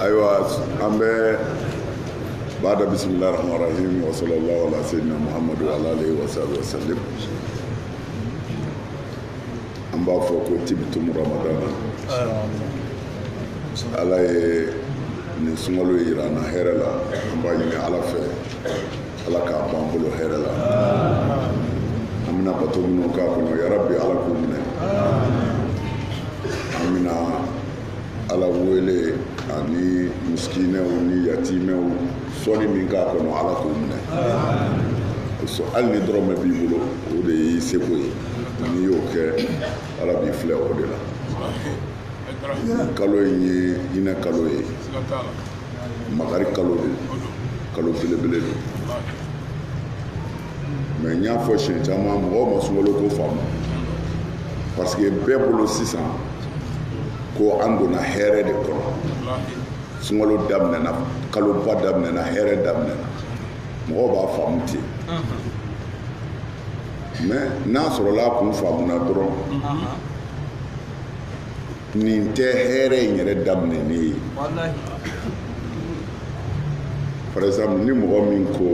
ayiwa an bɛ baada bisimila rahman rahim wa sallallahu ala sayyidina muhammadu wa ala alihi wa sahbihi wa sallim an b'a fɔ ko tibitum ramadana ala ye nin sunkalo in yira an na hɛrɛ la an b'a ɲini ala fɛ ala k'a b'an bolo hɛrɛ la an bɛna bato minnu k'a kɔnɔ yarabi ala k'u minɛ an bɛna ala wele ani misikinɛw ni yatimɛw sɔni min k'a kɔnɔ ala k'o minɛ hali ni dɔrɔmɛ b'i bolo o de y'i seko ye n'i y'o kɛ ala b'i filɛ o de la kalo in ye hinɛ kalo ye makari kalo de kalo belebele don mais n y'a fɔ siɲɛ caman mɔgɔw ma sunkalo ko faamu parce que bɛɛ bolo sisan ko an donna hɛrɛ de kɔnɔ sunkalo daminɛna kaloba daminɛna hɛrɛ daminɛna mɔgɔw b'a faamu ten mais n'a sɔrɔla a kun faamuna dɔrɔn nin tɛ hɛrɛ in yɛrɛ daminɛni ye par exemple ni mɔgɔ min ko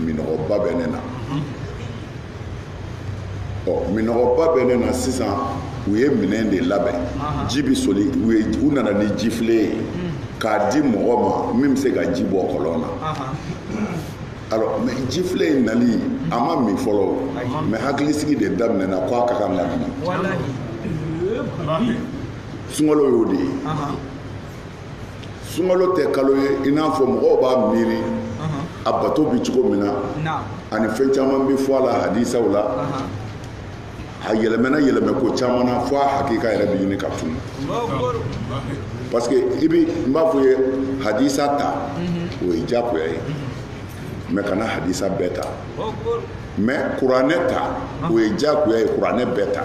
minɔgɔba bɛ ne na ɔ minɔgɔba bɛ ne na sisan u ye minɛn de labɛn ji bɛ soli u ye u nana ni jifilen ye k'a di mɔgɔ ma min bɛ se ka ji bɔ kɔlɔn na alors mais jifilen in nali a ma min fɔlɔ mais hakilisigi de daminɛna ko a ka kan ka min sunkalo y'o de ye sunkalo tɛ kalo ye i n'a fɔ mɔgɔw b'a miiri a bato bɛ cogo min na ani fɛn caman bɛ fɔ a la hadisaw la a yɛlɛmɛna yɛlɛmɛ ko caman na fo a hakika yɛrɛ bɛ ɲini ka tunu parce que i bi n b'a fɔ i ye hadisa ta mhm. o ye diyagoya ye mhm. mais kana hadisa bɛɛ ta mais kuranɛ ta o ye diyagoya ye kuranɛ bɛɛ ta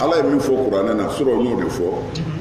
ala ye min fɔ kuranɛ na sɔrɔ n y'o de fɔ mhm.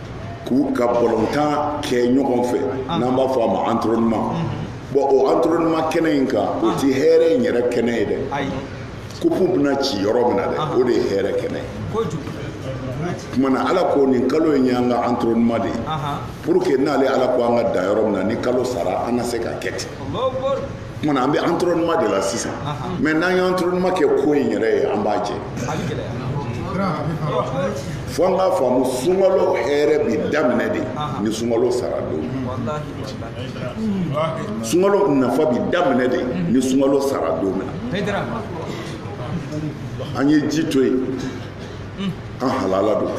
k'u ka balɔntan kɛ ɲɔgɔn fɛ ah. n'an b'a fɔ a ma entraînement mm-hmm. bon o entraînement kɛnɛ in kan o ti hɛrɛ in yɛrɛ kɛnɛ ye dɛ kupu bɛna ci yɔrɔ min na dɛ ah. o de ye hɛrɛ kɛnɛ ye kuma na ala ko nin kalo in y'an ka entraînement de ye pour que n'ale ala ko an ka dan yɔrɔ min na ni kalo sara an na se ka kɛ ten Tuma an bɛ entraînement de la sisan mais n'an ye entraînement kɛ ko in yɛrɛ ye an b'a jɛ fo an k'a faamu sunkalo hɛrɛ bi daminɛ de ni sunkalo sara don sunkalo nafa bi daminɛ de ni sunkalo sara don min na an ye ji to yen an halala don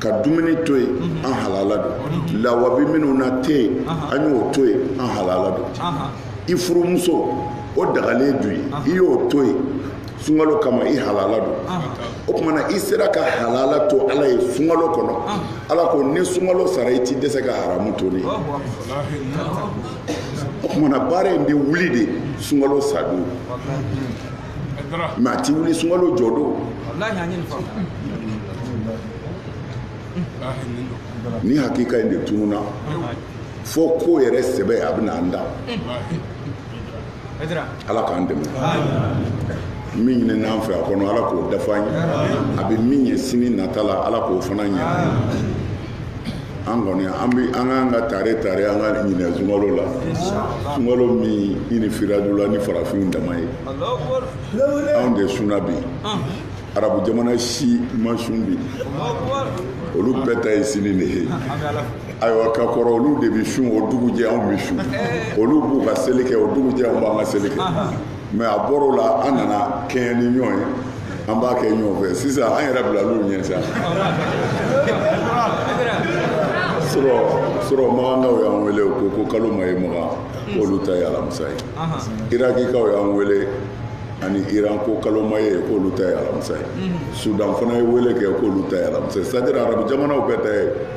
ka dumuni to yen an halala don lawa bɛ minnu na tɛ yen an y'o to yen an halala don i furumuso o dagalen don i ye i y'o to yen sunkalo kama i halala don o tumana i sera ka halala to ala ye sunkalo kɔnɔ ala ko ni sunkalo sara i ti dɛsɛ ka haramu to n ye o tumana baara in bɛ wuli de sunkalo sadon mɛ a ti wuli sunkalo jɔdon ni hakika in de tununa fo ko yɛrɛ sɛbɛ a bɛna an da ala k'an dɛmɛ min ɲinin'an fɛ a kɔnɔ ala k'o dafa an ye a bɛ min ye sini nata la ala k'o fana ɲɛ an kɔni an bɛ an k'an ka tare tare an ka ɲinɛ sunkalo la sunkalo min ɲinifiradu la ni farafinw dama ye anw de suna bi arabu jamana si ma sun bi olu bɛɛ ta ye sini de ye ayiwa ka kɔrɔ olu de bɛ sun o dugujɛ anw bɛ sun olu b'u ka seli kɛ o dugujɛ anw b'an ka seli kɛ mɛ a bɔra a la an nana kɛɲɛ ni ɲɔgɔn ye an b'a kɛ ɲɔgɔn fɛ sisan an yɛrɛ bilal'u ɲɛ sa surɔ makankaw y'an wele ko ko kalo ma ye makan k'olu ta ye alamisa ye irakikaw y'an wele ani iran ko kalo ma ye k'olu ta ye alamisa ye sudan fana ye wele kɛ k'olu ta ye alamisa ye sadira arabu jamanaw bɛɛ ta ye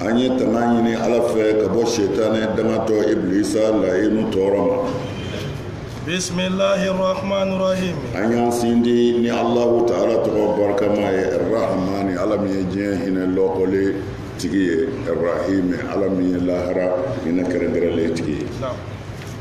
an ye tanga ɲini ala fɛ ka bɔ setanɛ dangatɔ iblisa layinu tɔɔrɔ ma bisimilahi rahmani rahim an y'a sindi ni alahu taala tɔgɔ barikama ye rahmani ala min ye diɲɛ hinɛ lɔkɔle tigi ye rahimi ala min ye lahara hinɛ kɛrɛnkɛrɛnlen tigi ye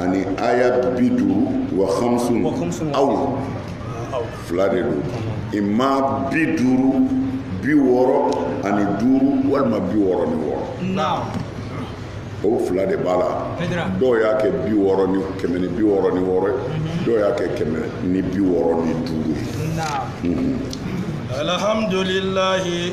ani aya bi duuru wa hamsun aw fila de don imma bi duuru bi wɔɔrɔ ani duuru walima bi wɔɔrɔ ni wɔɔrɔ o fila de b'a la dɔw y'a kɛ bi wɔɔrɔ ni kɛmɛ ni bi wɔɔrɔ ni wɔɔrɔ ye mhm. dɔw y'a kɛ kɛmɛ ni bi wɔɔrɔ ni duuru ye mhm. alhamdulilayi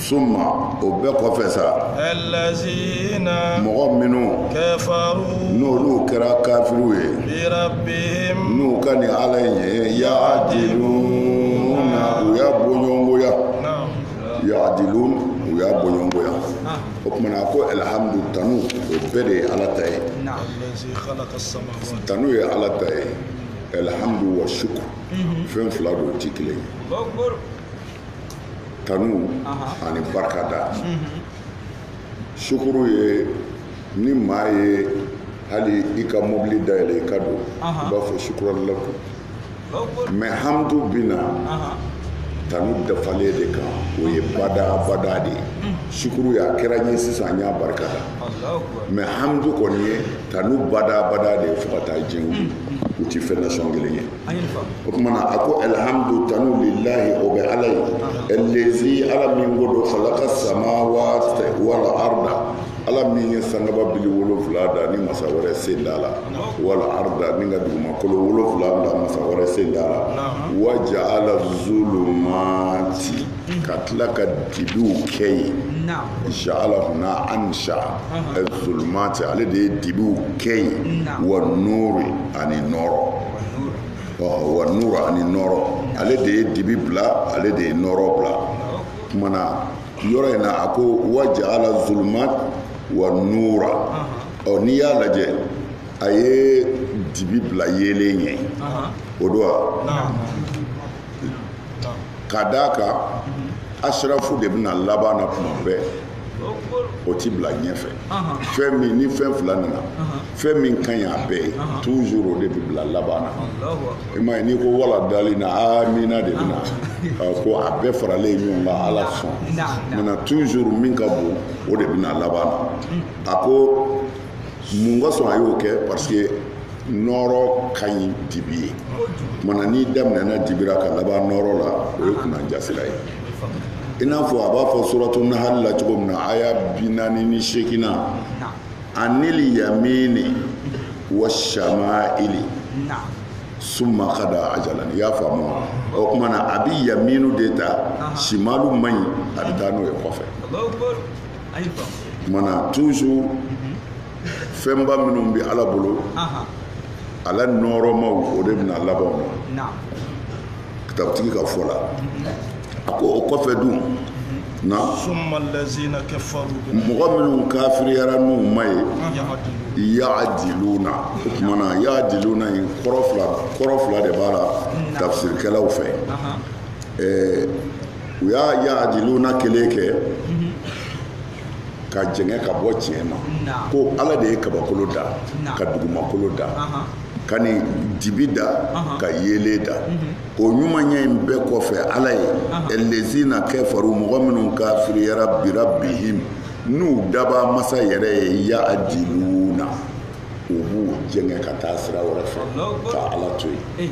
suma o bɛɛ kɔfɛ sa mɔgɔ minnu n'olu kɛra kafiriw ye n'u ka nin ala in ye yadiluna u y'a bɔɲɔgɔnkoya yadilun u y'a bɔɲɔgɔnkoya o tumana ko alhamdu tanu o bɛɛ de ye ala ta ye tanu ye ala ta ye alhamdu wa shukur fɛn fila don o tɛ kelen ye tanu ani barikada sukuru ye ni maa ye hali i ka mobili dayɛlɛ i ka don i b'a fɔ sukuran laka mɛ hamdu binna tanu dafalen de kan o ye bada bada de ye sukuru y'a kɛra n ye sisan n y'a barika da mɛ hamdu kɔni ye tanu bada bada de ye fo ka taa jɛn u ti fɛn nasɔn kelen ye o tuma na a ko alihamdu tanu lilahi o bɛ ala ye elezi ala min ko don halaka samawati wala arda ala min ye sankaba bili wolonfila da ni masa wɛrɛ sen t'a la wala arda ni ka dugumakolo wolonfila da masa wɛrɛ sen t'a la wa jaala zulumati ka tila ka dibiw kɛ yen jaala huna ansa zulumati ale de ye dibiw kɛ yen wa nuru ani nɔrɔ wa nuru ani nɔrɔ ale de ye dibi bila ale de ye nɔrɔ bila kumana yɔrɔ in na a ko wa jaala zulumat wa nura ɔ n'i y'a lajɛ a ye dibi bila yeelen ɲɛ o don wa ka d'a kan asirafu de bɛna laban na tuma bɛɛ o ti bila ɲɛfɛ fɛn min ni fɛn fila nana fɛn min ka ɲi a bɛɛ ye toujours o de bɛ bila laban na i m'a ye n'i ko wala daalina aamina de bɛna ko a bɛɛ faralen ɲɔgɔn kan ala sɔn mina toujours min ka bon o de bɛna laban na a ko mun kosɔn a y'o kɛ parce que nɔɔrɔ ka ɲi dibi ye kumana n'i daminɛna dibira ka laban nɔɔrɔ la o ye kunanjasira ye i n'a fɔ a b'a fɔ suratu nahali la cogo min na aya bi naani ni seegina anil yamini wa shama'ili summa kada ajalan i y'a faamu wa o kumana a bi yaminu de ta simalu man ɲi a bɛ taa n'o ye kɔfɛ mana tuusu fɛnba minnu bɛ ala bolo ala nɔɔrɔmaw o de bɛna laban na kitabutigi ka fɔ la a ko o kɔfɛ dun na mɔgɔ minnu kafiriyara n'u ma ye yaadiluna o tuma na yaadiluna in kɔrɔ fila kɔrɔ fila de b'a la tafsirikɛlaw fɛ ɛɛ u y'a yaadiluna kelen kɛ ka jɛngɛ ka bɔ tiɲɛ ma ko ala de ye kabakolo da ka dugumakolo da ka nin dibi da ka yeelen da o ɲumanya in bɛɛ kɔfɛ ala ye elezina kafaru mɔgɔ minnu kafiriyara birabihimi n'u dabaa masa yɛrɛ ye yaadiluna u b'u jɛngɛ ka taa sira wɛrɛ fɛ ka ala to yen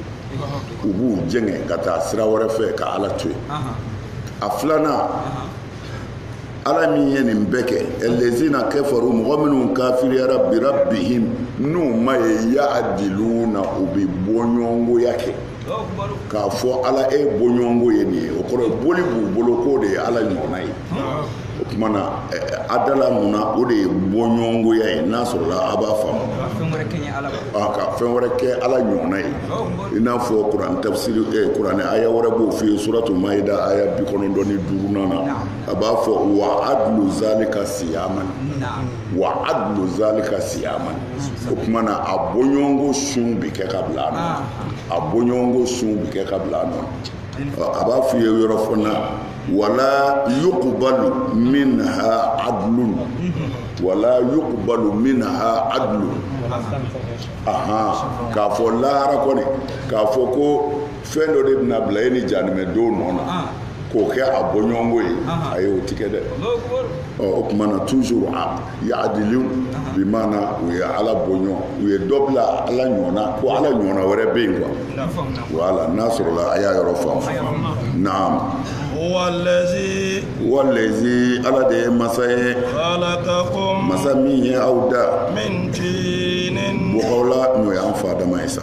u b'u jɛngɛ ka taa sira wɛrɛ fɛ ka ala to yen a filanan ala min ye nin bɛɛ kɛ lazina kafaru mɔgɔ minnu kafiriyara birabihim n'u ma ye ya'diluna u bɛ bɔɲɔgɔnkoya kɛ k'a fɔ ala e bɔɲɔgɔnko ye nin ye o kɔrɔ boli b'u bolo k'o de ye ala ɲɔgɔnna ye o tuma na adala maana o de ye bɔɲɔgɔnkoya ye n'a sɔrɔla a b'a faamu ka fɛn wɛrɛ kɛ ala ɲɔgɔnna ye i n'a fɔ kuran tafsiri kuranɛ aya wɛrɛ b'o f'i ye suratu mayida aya bi kɔnɔntɔn ni duurunan na a b'a fɔ wa adlu zalika siyaman wa adlu zalika siyaman o tuma na a bɔɲɔgɔnko sun bɛ kɛ ka bila a nɔ a bɔɲɔgɔnko sun bɛ kɛ ka bila a nɔ a b'a f'i ye yɔrɔ fana wala yuqbalu minha adlun wala yuqbalu minha adlun aha k'a fɔ lahara kɔni k'a fɔ ko fɛn dɔ de bɛna bila e ni jahanama don nɔ na ah. k'o kɛ a bɔɲɔgɔnko ye ah. ayi o tɛ kɛ dɛ o tuma na toujours a ya'dilu ah. bi maana u ye ala bɔɲɔgɔn u ye dɔ bila ala ɲɔgɔnna ko ala ɲɔgɔnna wɛrɛ bɛ yen quoi voilà n'a sɔrɔla a y'a yɔrɔ faamu naam huwalazi huwalazi ala de ye masa ye halakakum masa min ye aw da min tinin bɔgɔ la n'o y'an fa adama ye sa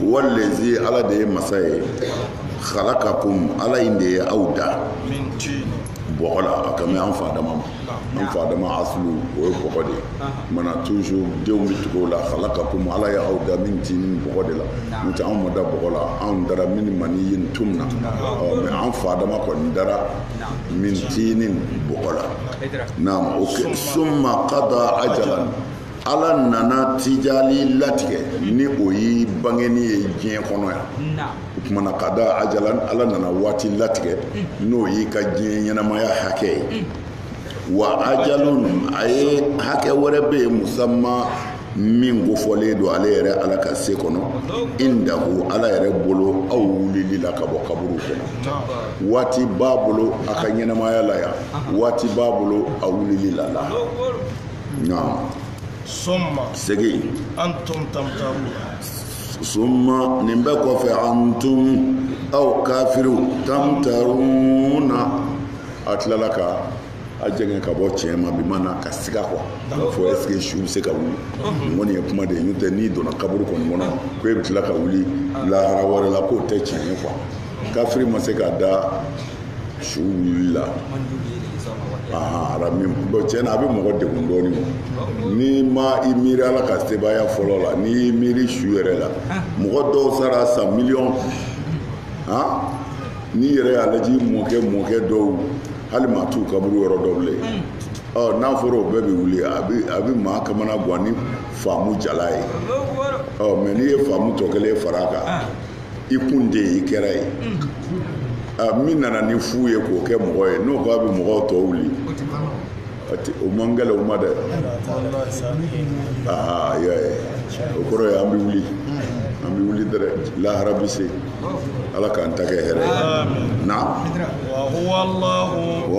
huwalazi ala de ye masa ye halakakum ala in de ye aw da bɔgɔ la a kan bɛ an fa adama ma an fa adama aslu o ye bɔgɔ de ye tuma na toujours denw bɛ tugu la halakakum ala ye aw da min tinin bɔgɔ de la n'o tɛ anw ma da bɔgɔ la anw dara min maniyin tumna ɔ mais an fa adama kɔni dara min tinin bɔgɔ la naam summa kada ajalan ala nana tijali latigɛ ni o ye bangeni ye diɲɛ kɔnɔ yan o tuma na kada ajalan ala nana waati latigɛ mm. n'o y'i ka diɲɛ ɲɛnamaya hakɛ ye mm. wa ajalun a ye hakɛ wɛrɛ bɛ yen musamma min kofɔlen don ale yɛrɛ ala ka se kɔnɔ indahu ala yɛrɛ bolo aw wulili la ka bɔ kaburu kɔnɔ waati b'a bolo a ka ɲɛnamaya la yan waati b'a bolo a wulili la la summa segin antum tamtarun summa nin bɛɛ kɔfɛ antum aw kafiriw tamtaruna a tilala ka a jɛngɛ ka bɔ tiɲɛ ma bi maana ka siga k'a fɔ est ce que su bɛ se ka wuli nin kɔni ye kuma de ye n'o tɛ n'i donna kaburu kɔni kɔnɔ ko e bɛ tila ka wuli lahara wɛrɛ la k'o tɛ tiɲɛ ye quoi kafiri ma se ka da su wulila arabi bɔn cɛn na a bɛ mɔgɔ degun dɔɔni ma n'i ma i miiri ala ka sebaaya fɔlɔ la n'i y'i miiri su yɛrɛ la mɔgɔ dɔw sara san miliyɔn n'i yɛrɛ y'a lajɛ i mɔkɛ mɔkɛ dɔw hali maa t'u kaburu yɔrɔ dɔn bilen ɔ n'a fɔra o bɛɛ bɛ wuli a bɛ a bɛ maa kamana gan ni faamu jalan ye ɔ mɛ n'i ye faamu tɔ kelen fara a kan i kun tɛ i kɛra ye min nana ni fu ye k'o kɛ mɔgɔ ye n'o k'a bɛ mɔgɔw tɔ wuli o man gɛlɛn o ma dɛ aa y'a ye o kɔrɔ ye an bɛ wuli an bɛ wuli dɛrɛ lahara bɛ se ala k'an ta kɛ hɛrɛ ye na wa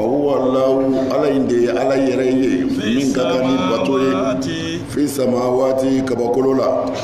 huwalahu ala in de ye ala yɛrɛ ye min ka kan ni bato ye fi samawaati kabakolo la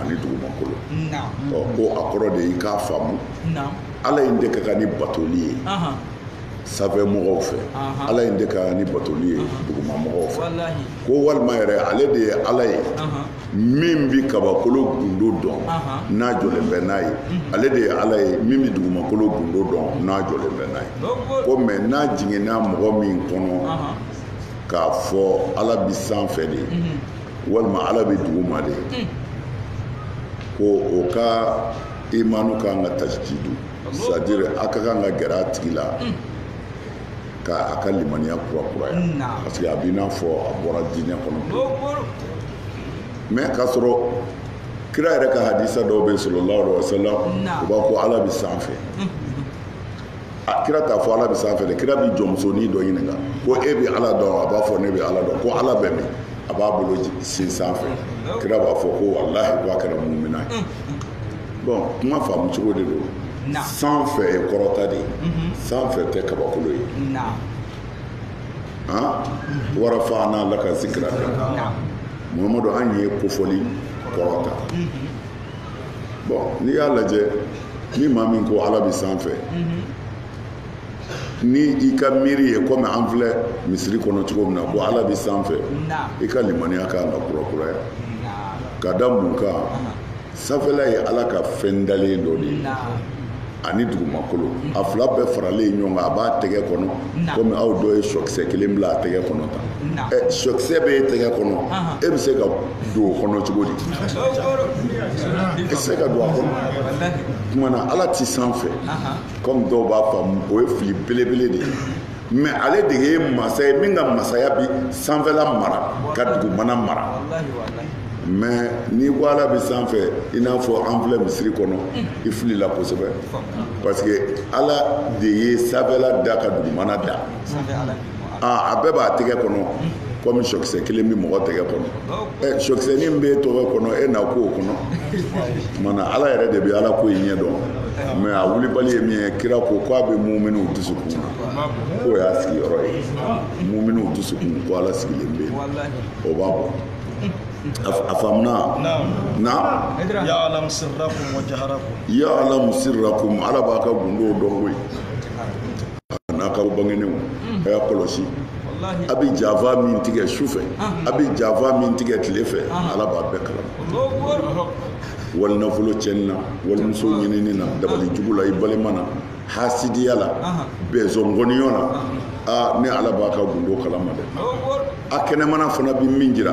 ani dugumakolo ɔ ko a kɔrɔ de y'i k'a faamu ala in de ka kan ni batoli ye sanfɛ mɔgɔw fɛ ala in de ka kan ni batoli ye duguma mɔgɔw fɛ ko walima yɛrɛ ale de ye ala ye min bɛ kabakolo gundo dɔn n'a jɔlen bɛ n'a ye ale de ye ala ye min bɛ dugumakolo gundo dɔn n'a jɔlen bɛ n'a ye ko mɛ n'a jiginna mɔgɔ min kɔnɔ k'a fɔ ala bɛ sanfɛ de ye walima ala bɛ duguma de hmm. ko o ka imanu ka kan ka tajdidu c'est-à-dire a ka kan ka gɛrɛ a tigi la hmm. ka a ka limaniya kurakuraya hmm, parce que a b'i n'a fɔ a bɔra diinɛ kɔnɔ mɛ k'a sɔrɔ kira yɛrɛ ka hadisa dɔw bɛ sallallahu alaihi wa sallam u b'a ko ala bɛ sanfɛ a kira t'a fɔ ala bɛ sanfɛ dɛ kira bɛ jɔnmusonin dɔ ɲininka ko e bɛ ala dɔn a b'a fɔ ne bɛ ala dɔn ko ala bɛ min a b'a bolo sin sanfɛ kira b'a fɔ ko walahi ko a kɛra mumina ye mm, mm. bɔn kuma faamu cogo de don sanfɛ ye kɔrɔta de ye mm-hmm. sanfɛ tɛ kabakolo ye mm-hmm. wa rafaana laka zikiraka mahamadu an y'e kofɔli kɔrɔta mm-hmm. bɔn n'i y'a lajɛ ni maa min ko ala bɛ sanfɛ ni i ka miiri ye komi an filɛ misiri kɔnɔ cogo min na ko ala bɛ sanfɛ i ka limaniya ka kan ka kurakuraya ka da mun kan sanfɛla ye ala ka fɛn dalen dɔ de ye ani dugumakolo a fila bɛɛ faralen ɲɔgɔn kan a b'a tɛgɛ kɔnɔ komi aw dɔ ye sɔkisɛ kelen bila a tɛgɛ kɔnɔ tan sɔkisɛ bɛ e tɛgɛ kɔnɔ e bɛ se ka don o kɔnɔ cogo di e tɛ se ka don a kɔnɔ tuma na ala tɛ sanfɛ kɔmi dɔw b'a faamu o ye fili belebele de ye mais ale de ye masa ye min ka masaya bi sanfɛla mara ka dugumana mara mais n'i ko ala bɛ sanfɛ i n'a fɔ an filɛ misiri kɔnɔ i filila kosɛbɛ parce que ala de ye sanfɛla da ka dugumana da a bɛɛ b'a tɛgɛ kɔnɔ kɔmi sɔkisɛ kelen bɛ mɔgɔ tɛgɛ kɔnɔ ɛ sɔkisɛni min b'e tɛgɛ kɔnɔ e na ko o kɔnɔ kumana ala yɛrɛ de bɛ ala ko in ɲɛ dɔn mais a wulibali ye min ye kira ko ko a bɛ muminiw dusukun na k'o y'a sigiyɔrɔ ye muminiw dusukun ko ala sigilen bɛ yen o b'a bɔ a faamuna na ya'lamu sirrakum wa jaharakum ya'lamu sirrakum ala b'a ka gundow dɔn koyi a n'a ka bangenenw a y'a kɔlɔsi a bɛ janfa min tigɛ su fɛ a bɛ janfa min tigɛ tile fɛ ala b'a bɛɛ kalama wali nafolo cɛnni na walimuso ɲinini na dabali jugu la i balima na hasidiya la bɛnzɔngɔniyɔ la aa ne ala b'a ka gundo kalama dɛ a kɛnɛmana fana bɛ min jira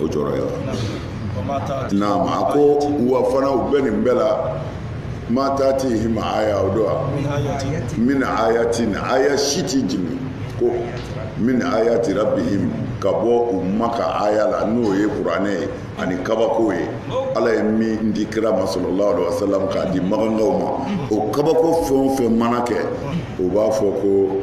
o jɔyɔrɔ ye naam a ko wa fana u bɛ nin bɛɛ la ma tatihim aya o don wa min ayatin aya si ti jigin ko min ayati rabbihim ka bɔ u ma ka aya la n'o ye kuranɛ ye ani kabako ye ala ye min di kira ma sallallahu alaihi wasallam k'a di makankaw ma o kabako fɛn o fɛn mana kɛ o b'a fɔ ko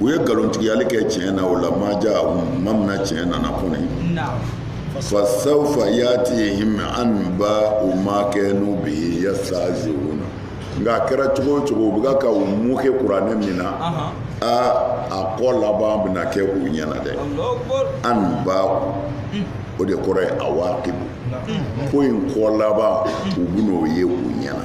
u ye nkalontigiyali kɛ tiɲɛ na o lamma jaahum mina tiɲɛ nana kɔni fasawfa yatihim anbau ma kanu bihi yastahziuna nka a kɛra cogo o cogo u bɛ ka u moquer kuranɛ min na a a kɔ laban bɛna kɛ u ɲɛna dɛ anbau o de kɔrɔ ye awaqibu ko in kɔ laban u bɛn'o ye u ɲɛna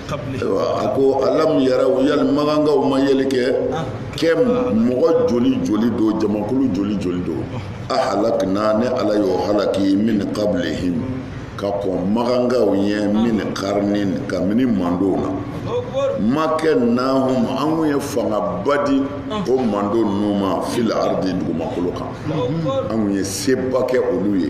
a ko alam yaraw yali makankaw ma yeli kɛ kam mɔgɔ joli joli don jamakulu joli joli don ahlakna ne ala y'o halaki min qablihim ka kɔn makankaw ɲɛ min qarnin kabini mantonw na makkannahum an kun ye fangaba di o manton ninnu ma fil ardi dugumakolo kan an kun ye sebaa kɛ olu ye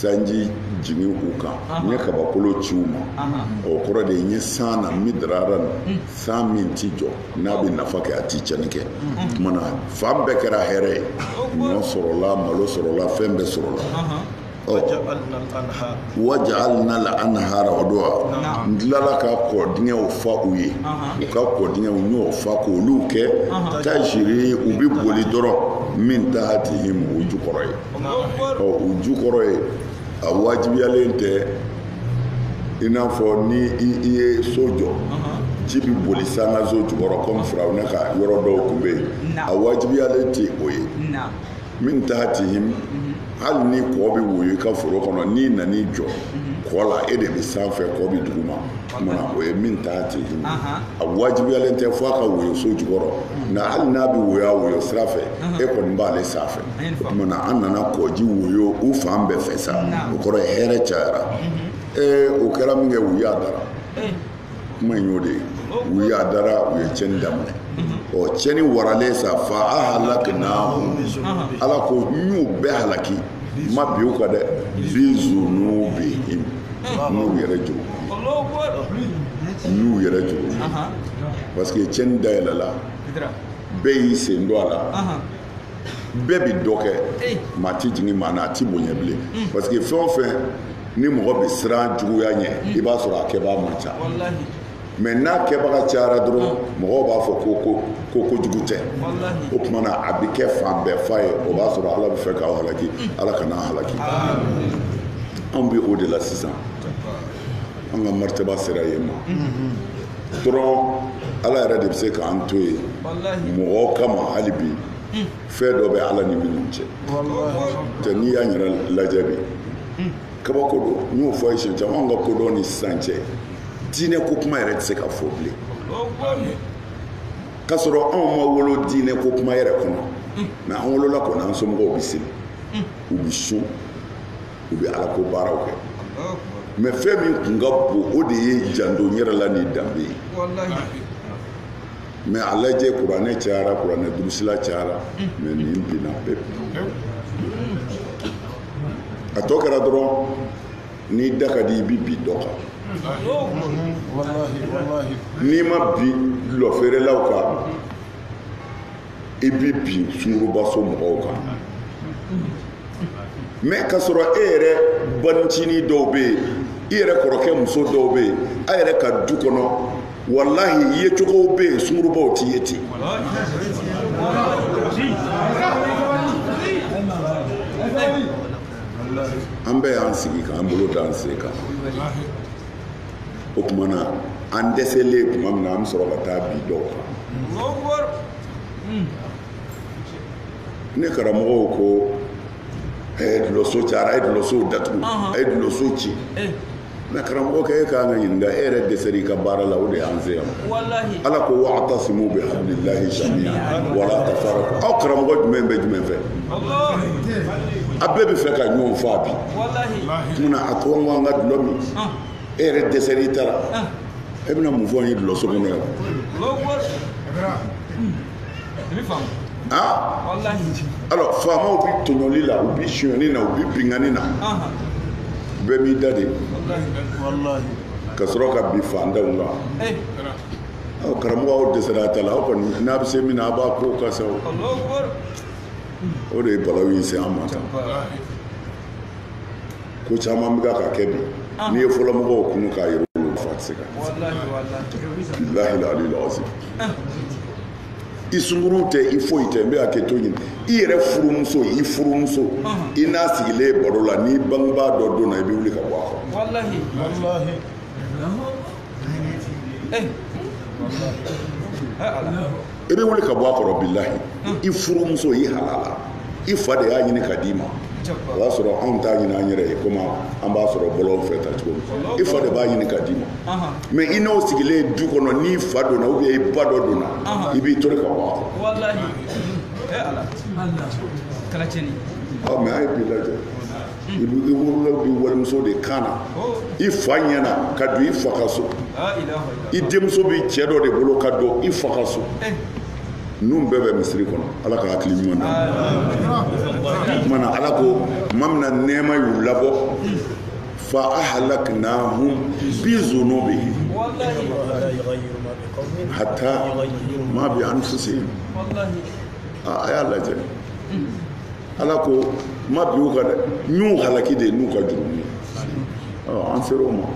sanji jigin u kan n ye kabakolo ci u ma o kɔrɔ de n ye san na midraran san min ti jɔ n'a bɛ nafa kɛ a ti cɛni kɛ kumana fan bɛɛ kɛra hɛrɛ ye ɲɔ sɔrɔla malo sɔrɔla fɛn bɛɛ sɔrɔla wa ja'alnal anhara o don wa n tilala ka kɔ dingɛw fa u ye u ka kɔ dingɛw n y'o fa k'olu kɛ tajri u bɛ boli dɔrɔn min tahtihim o jukɔrɔ ye ɔ o jukɔrɔ ye a wajibiyalen tɛ i n'a fɔ ni i ye so jɔ ji bɛ boli sankanso jukɔrɔ kɔmi firawuna ka yɔrɔ dɔw tun bɛ yen a wajibiyalen tɛ o ye min tahtihim hali ni kɔ bɛ woyo i ka foro kɔnɔ n'i nan'i jɔ kɔ la e de bɛ sanfɛ kɔ bɛ duguma tuma na o ye min tahtihim a wajibiyalen tɛ fo a ka woyo so jukɔrɔ nka hali n'a bɛ woyo a woyo sira fɛ e kɔni b'ale sanfɛ tuma an nana kɔji woyo u fan bɛɛ fɛ sa o kɔrɔ ye hɛrɛ cayara ee o kɛra min kɛ u yadara kuma in y'o de ye u yadara u ye cɛni daminɛ ɔ cɛni waralen sa fa ahlakna ala ko n y'u bɛɛ halaki n ma bin u kan dɛ bi zunubihim n y'u yɛrɛ jogo n y'u yɛrɛ jogo parce que cɛni dayɛlɛla bɛɛ y'i sen don a la bɛɛ bɛ dɔ kɛ maa tɛ jigin maa na a tɛ bonya bilen hmm. parce que fɛn o fɛn ni mɔgɔ bɛ siran juguya ɲɛ hmm. i b'a sɔrɔ a kɛbaa man ca mɛ n'a kɛbaga cayara dɔrɔn hmm. mɔgɔw b'a fɔ ko ko ko kojugu tɛ o tuma na a bɛ kɛ fan bɛɛ fa ye o b'a sɔrɔ ala bɛ fɛ k'aw halaki ala kan'an halaki anw bɛ o de la sisan an ka maritaba sera yen ma dɔrɔn ala yɛrɛ de bɛ se k'an to yen mɔgɔ kama hali bi fɛn dɔ bɛ ala ni minnu cɛ tɛ n'i y'a yɛrɛ lajɛ bi kabako don n y'o fɔ a ye siɲɛ caman anw ka kodɔn ni sisan cɛ diinɛ ko kuma yɛrɛ tɛ se ka fɔ bilen k'a sɔrɔ anw ma wolo diinɛ ko kuma yɛrɛ kɔnɔ mɛ an wolola kɔni an somɔgɔw bɛ seli u bɛ sun u bɛ ala ko baaraw kɛ mɛ fɛn min tun ka bon o de ye janto yɛrɛ la ni danbe ye mɛ a lajɛ kuranɛ cayara kuranɛ durusila cayara mɛ nin binna pewu a tɔ kɛra dɔrɔn n'i da ka di i bɛ bin dɔ kan n'i ma bin dɔlɔfeerelaw kan i bɛ bin sungurubaso mɔgɔw kan mɛ k'a sɔrɔ e yɛrɛ balincinin dɔw bɛ yen i yɛrɛ kɔrɔkɛ muso dɔw bɛ yen a yɛrɛ ka du kɔnɔ walahi yecogow bɛ yen sungurubaw tɛ ye ten an bɛɛ y'an sigi k'an bolo da an sen kan o tuma na an dɛsɛlen tuma min na an bɛ sɔrɔ ka taa bin dɔw kan ne karamɔgɔw ko a ye dulɔso cayara a ye dulɔsow datugu a ye dulɔso ci mɛ karamɔgɔkɛ an k'i ɲininka e yɛrɛ dɛsɛra i ka baara la o de y'an se yan ala ko wa'tasimu bi hablillahi jamiyan wala tafarraqu aw karamɔgɔ jumɛn bɛ jumɛn fɛ a bɛɛ bɛ fɛ ka ɲɔgɔn faa bi munna a to an k'an ka dulɔ min e yɛrɛ dɛsɛr'i ta la e bɛna mun fɔ an ye dulɔso kɔnɔ yan alors faamaw bi tɔɲɔli la u bi sonyani na u bi binkanni na bɛɛ b'i da de ka sɔrɔ ka bin fantanw kan aw karamɔgɔ aw dɛsɛra a ta la aw kɔni n'a bɛ se min na a b'a ko ka sa o de ye balawu in se an ma tan ko caman bɛ ka kɛ bi ah. n'i ye fɔlɔmɔgɔw kunun k'a yɛrɛ wolo nafa tɛ se ka bilahi aliyil azim ah. i sunguru tɛ i foyi tɛ n bɛ hakɛto ɲini i yɛrɛ furumuso i furumuso ah. i n'a sigilen ye baro la n'i bangebaa dɔ donna i bɛ wuli ka bɔ a kɔrɔ i bɛ wuli ka bɔ a kɔrɔ bilahi i furumuso i halala i fa de y'a ɲini ka d'i ma o y'a sɔrɔ anw t'a ɲini an yɛrɛ ye komi an b'a sɔrɔ bɔlɔn fɛ tan cogo min i fa de b'a ɲini ka d'i ma mɛ i n'o sigilen ye du kɔnɔ n'i fa donna ou bien i ba dɔ donna i b'i tori ka bɔ a kɔrɔ mɛ a ye bi lajɛ i bɛ i bolo don walimuso de kan na i fa ɲɛna ka don i fa ka so i denmuso bɛ cɛ dɔ de bolo ka don i fa ka so ninnu bɛɛ bɛ misiri kɔnɔ ala ka hakili ɲuman na kuma na ala ko tuma min na nɛɛma y'u labɔ fa ahlaknahum bi zunubihim hatta ma bi anfusihim a y'a lajɛ ala ko ma bi u ka dɛ n y'u halaki de n'u ka jurumu ye an sera o ma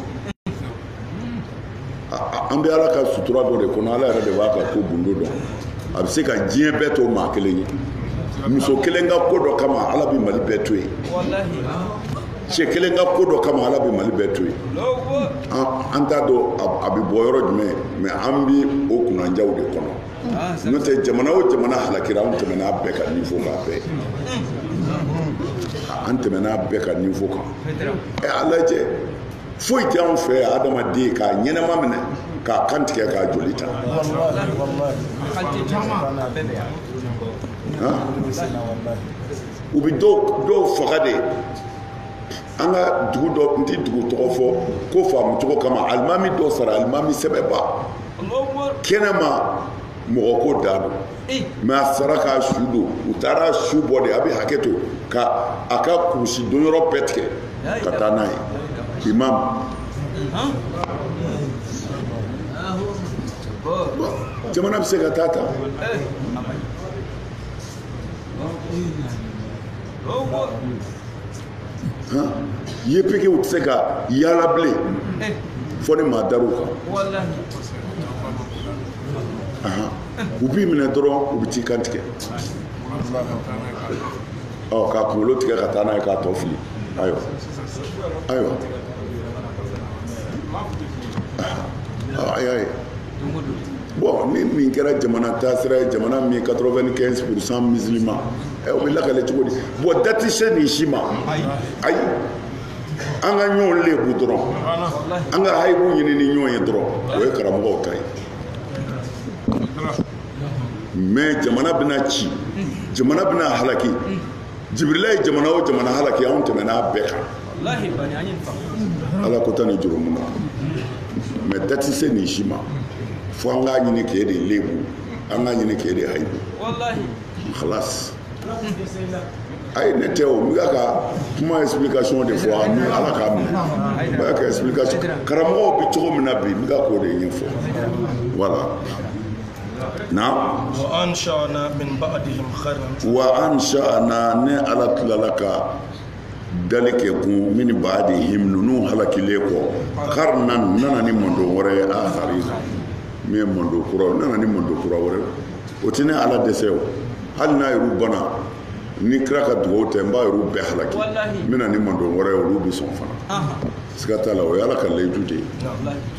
an bɛ ala ka sutura dɔ de kɔnɔ ala yɛrɛ de b'a ka ko gundo dɔn a bɛ se ka diɲɛ bɛɛ to maa kelen ye muso kelen ka ko dɔ kama ala bɛ mali bɛɛ to yen cɛ kelen ka ko dɔ kama ala bɛ mali bɛɛ to yen an t'a dɔn a bɛ bɔ yɔrɔ jumɛn mɛ an bɛ o kunnanjaw de kɔnɔ n'o tɛ jamana o jamana halakira an tɛmɛna bɛɛ ka niveau kan bi an tɛmɛna bɛɛ ka niveau kan ɛ a lajɛ foyi tɛ anw fɛ adamaden k'a ɲɛnɛma minɛ k'a kan tigɛ k'a joli ta u bɛ dɔw faga de an ka dugu dɔ n tɛ dugu tɔgɔ fɔ ko faamucogo kama alimami dɔ sara alimami sɛbɛba kɛnɛma mɔgɔ ko da don mais a sara k'a su don u taara su bɔ de a bɛ hakɛ to ka a ka kurusi don yɔrɔ bɛɛ tigɛ ka taa n'a ye imam jamana bɛ se ka taa tan wa yefegew tɛ se ka yaala bilen fo ni maa dar'u kan u b'i minɛ dɔrɔn u bɛ t'i kan tigɛ ɔ k'a kunkolo tigɛ ka taa n'a ye k'a tɔ fili ayiwa ayiwa a y'a ye Bon ni nin kɛra jamana taasira ye jamana min 95 pourcent musulman ɛ eh, o bɛ lakale cogo di bon da tɛ se nin si ma ayi an ka ɲɔgɔn lebu dɔrɔn an ka hayibu ɲini ni ɲɔgɔn ye dɔrɔn o ye karamɔgɔw ta ye mais jamana bɛna ci jamana bɛna halaki jibirila ye jamana o jamana halaki anw tɛmɛna a bɛɛ kan ala ko tan ni jurumun na mais da tɛ se nin si ma fo an k'a ɲini k'e de lebu an k'a ɲini k'e de hayibu halas a ye ne tɛ o n bɛ ka kuma explication de fɔ ani ala k'a minɛ n bɛ ka explication karamɔgɔw bɛ cogo min na bi n bɛ ka k'o de ɲɛfɔ voilà wa ansha'na ne ala tilala ka dali kɛ kun min ba'dihim ninnu halakilen kɔ qarnan n nana ni mantɔn wɛrɛ ye akharin min ye mantɔn kura nana ni mantɔn kura wɛrɛ o tɛ ne ala dɛsɛ o hali n'a yɛrɛw bana ni kira ka dugawu tɛ n b'a yɛrɛw bɛɛ halaki n bɛ na ni mantɔn wɛrɛ ye olu bɛ sɔn fana siga t'a la o ye ala ka layidu de ye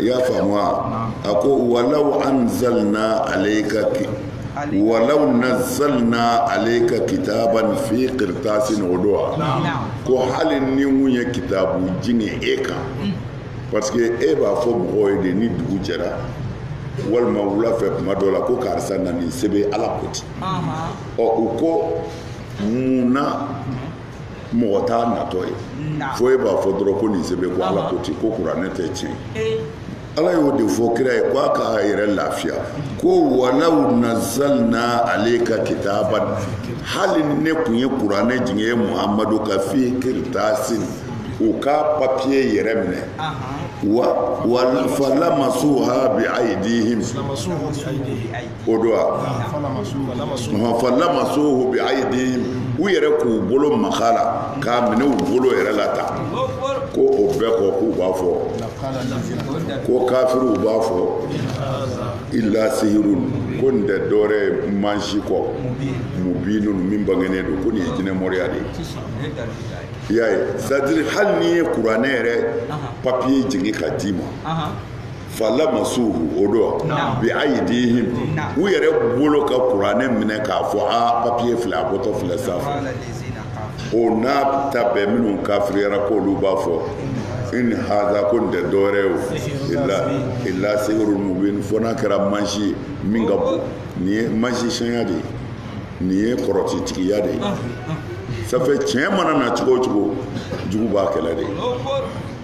i y'a faamu wa a ko walaw anzalna alayka walaw nazzalna alayka kitaban fi qirtasin o don wa ko hali ni n tun ye kitabu jigin e kan parce que e b'a fɔ mɔgɔw ye de ni dugu jɛra walima wula fɛ kuma dɔ la ko karisa na nin sɛbɛ ala ko ten ɔ u ko mun na mɔgɔ t'a natɔ ye fo e b'a fɔ dɔrɔn ko nin sɛbɛ ko ala ko ten ko kuranɛ tɛ tiɲɛ ala y'o de fɔ kira ye ko a k'a yɛrɛ lafiya ko walaw nazzalna alayka kitaban hali ne tun ye kuranɛ jigin e muhamadu kan fi qirtasin u ka papiye yɛrɛ minɛ wa falamasuhu bi aydihim o don wa falamasuhu bi ayidihim u yɛrɛ k'u bolo maga a la k'a minɛ u bolo yɛrɛ la ta ko o bɛɛ kɔ k'u b'a fɔ ko kafiriw b'a fɔ ila sehurun ko nin tɛ dɔwɛrɛ ye mansi kɔ mubinun min bangenen don ko nin ye jinɛmɔriya de ye i y'a ye c'est-à-dire hali n'i ye kuranɛ yɛrɛ papiye jigin ka d'i ma falamasuhu o don wa bi ayidihim u yɛrɛ bolo ka kuranɛ minɛ k'a fɔ a papiye filɛ a bɔtɔ filɛ sanfɛ o n'a ta bɛɛ minnu kafiriyara k'olu b'a fɔ in haza ko nin tɛ dɔwɛrɛ ye o ila ila sehurul mubin fo n'a kɛra mansi ye min ka bon nin ye mansisiyɛnya de ye nin ye kɔrɔtitigiya de ye ça fait tiɲɛ mana na cogo o cogo jugu b'a kɛlɛ de ye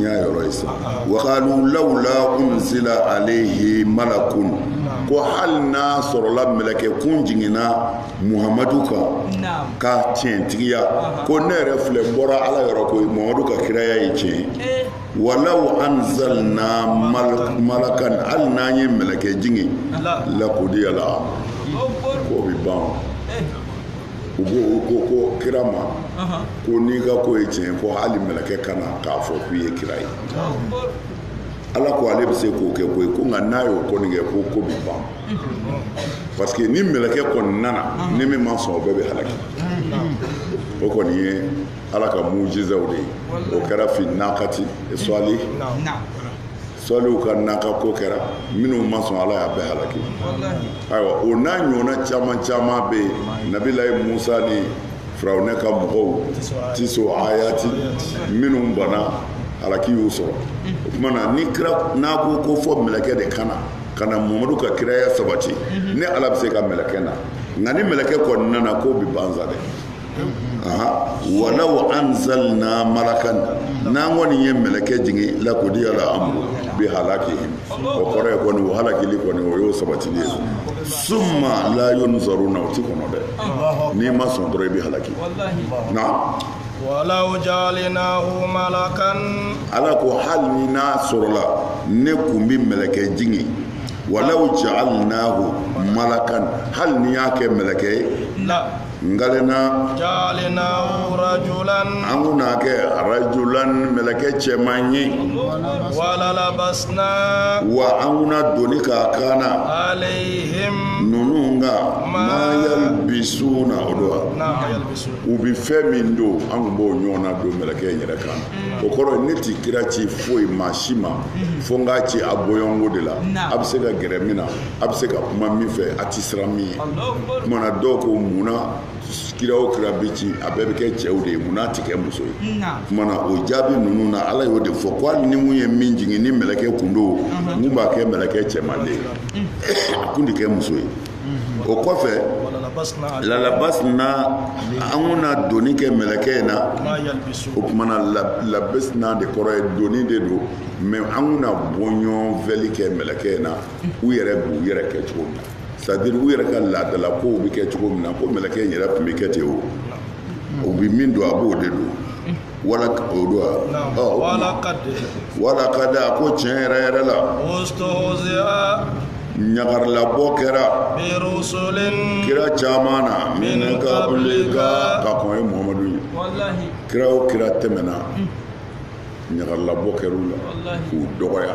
y'a yɔrɔ ye sa wakalu lawula unzila alehi malakun ko hali n'a sɔrɔla mɛlɛkɛ kun jiginna muhamadu kan k'a tiɲɛtigiya ko ne yɛrɛ filɛ bɔra ala yɔrɔ ko muhamadu ka kiraya ye tiɲɛ eh. walaw anzalna malakan hali n'an ye mɛlɛkɛ jigin lakudiyal ko bɛ ban eh. u ko ko ko kira ma ko n'i ka ko ye tiɲɛ ko hali mɛlɛkɛ ka na k'a fɔ k'i ye kira ye ala ko ale bɛ se k'o kɛ koyi ko nka n'a y'o kɔni kɛ ko ko bɛ ban parce que ni mɛlɛkɛ kɔni nana ni min ma sɔn o bɛɛ bɛ halaki o kɔni ye ala ka mujizaw de ye o kɛra fi nakati sɔli sɔlihu ka naka ko kɛra minnu ma sɔn ala y'a bɛɛ halaki ayiwa o n'a ɲɔgɔnna caman caman bɛ yen nabilayi musa ni firawunɛ ka mɔgɔw tisu ayati minnu bana halaki y'u sɔrɔ o tuma na ni kira n'a ko ko fo mɛlɛkɛ de ka na ka na mamadu ka kiraya sabati ne ala bɛ se ka mɛlɛkɛ na nka ni mɛlɛkɛ kɔni nana ko bɛ ban sa dɛ aa walaw anzalna malakan n'an kɔni ye mɛlɛkɛ jigin lakudiyal amuru bi halakihim o kɔrɔ ye kɔni o halakili kɔni o y'o sabatili ye summa la yunzaruna o ti kɔnɔ dɛ n'i ma sɔn dɔrɔn i bi halaki na walaw jaalinahu malakan ala ko hali ni n'a sɔrɔla ne kun bi mɛlɛkɛ jigin walaw jaalinahu malakan hali ni n y'a kɛ mɛlɛkɛ ye lajaalinahu rajulan an kun n'a kɛ rajulan mɛlɛkɛ cɛman ye walalabasna wa an kun na doni k'a kan na alayhim ninnu kan ma yalbisuna o don wa u bɛ fɛn min don an kun b'o ɲɔgɔnna don mɛlɛkɛ in yɛrɛ kan o kɔrɔ ne ti kira ci foyi maa si ma fo n k'a ci a bɔɲɔnko de la a bɛ se ka gɛrɛ min na a bɛ se ka kuma min fɛ a tɛ siran min ɲɛ kuma na dɔw ko munna kira o kira bɛ ci a bɛɛ bɛ kɛ cɛw de ye munna a tɛ kɛ muso ye kuma na o jaabi ninnu na ala y'o de fɔ ko hali ni mun ye min jigin ni mɛlɛkɛ kun don n kun b'a kɛ mɛlɛkɛ cɛman de ye a kun tɛ kɛ muso ye o kɔfɛ lalabasina an kun na donni kɛ mɛlɛkɛ in na o kuma na labasina de kɔrɔ ye donni de don mais an kun na bɔɲɔgɔn vɛli kɛ mɛlɛkɛ in na u yɛrɛ b'u yɛrɛ kɛ cogo min na c'est-à-dire u yɛrɛ ka laadala kow bɛ kɛ cogo min na ko mɛlɛkɛ in yɛrɛ tun bɛ kɛ ten o u bɛ min don a b'o de don wala o don wa walakadi walakadi a ko tiɲɛ yɛrɛ yɛrɛ la ɲagarilabɔ kɛra kira caman na min ka ka ka kɔn e muhammadu ɲɛ kiraw kira tɛmɛna ɲagarilabɔ kɛra u la k'u dɔgɔya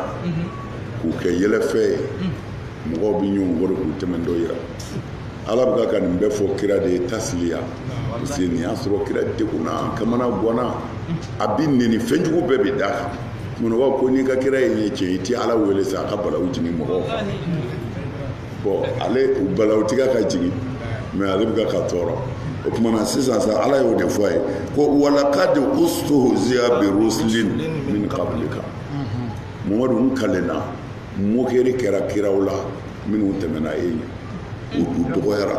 k'u kɛ yɛlɛfɛn ye mɔgɔw bɛ ɲɔgɔn kɔri k'u tɛmɛntɔ yira ala bɛ ka ka nin bɛɛ fɔ kira de ye tasiliya parce que nin y'a sɔrɔ kira degunna a kamanagwanna a bɛ neni fɛn jugu bɛɛ bɛ d'a kan munna ko n'i ka kiraya ye cɛn i tɛ ala wele sa a ka balawu jigin mɔgɔw kan bon ale balawu ti ka ka jigin mais ale bɛ ka ka tɔɔrɔ o tuma na sisan sa ala y'o de fɔ a ye ko walakadi ustuhuziya bi rusilin min qablika mamadu n kalenna moquerie kɛra kiraw la minnu tɛmɛna e ɲɛ u dɔgɔyara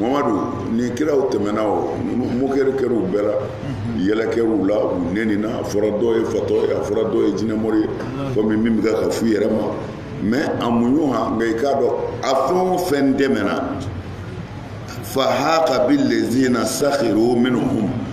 mamadu ni kiraw tɛmɛna o moquerie kɛra u bɛɛ la yɛlɛ kɛra u la u nenina a fɔra dɔw ye fatɔ ye a fɔra dɔw ye jinɛmori ye comme min bɛ ka fɔ i yɛrɛ ma mais a muɲu ha nka i k'a dɔn a fɛn o fɛn tɛmɛna fahaka bilezina sahiru minhum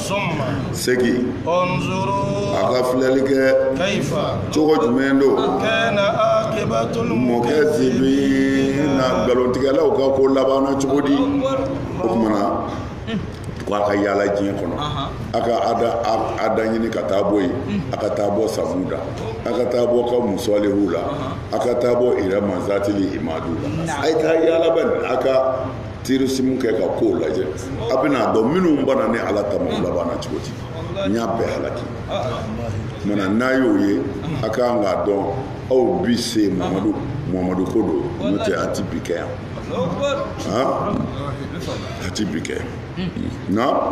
summa segin unzuru a ka filɛli kɛ kaifa cogo jumɛn don kana aqibatul mukazibina nkalontigɛlaw ka ko labanna cogo di o kuma na ko a ka yaala diɲɛ kɔnɔ a ka ada ɲini ka taa bɔ yen a ka taa bɔ samuda a ka taa bɔ kawmu salihu la a ka taa bɔ irama zatili imadu la a ye taa yaala bɛ a ka tourisme kɛ ka kow lajɛ a bɛna dɔn minnu banna ne ala ta ma u labanna cogo di n y'a bɛɛ halaki mana n'a y'o ye a ka kan k'a dɔn aw bi se mamadu mamadu ko don n'o tɛ a ti bi kɛ yan a ti bi kɛ yan nka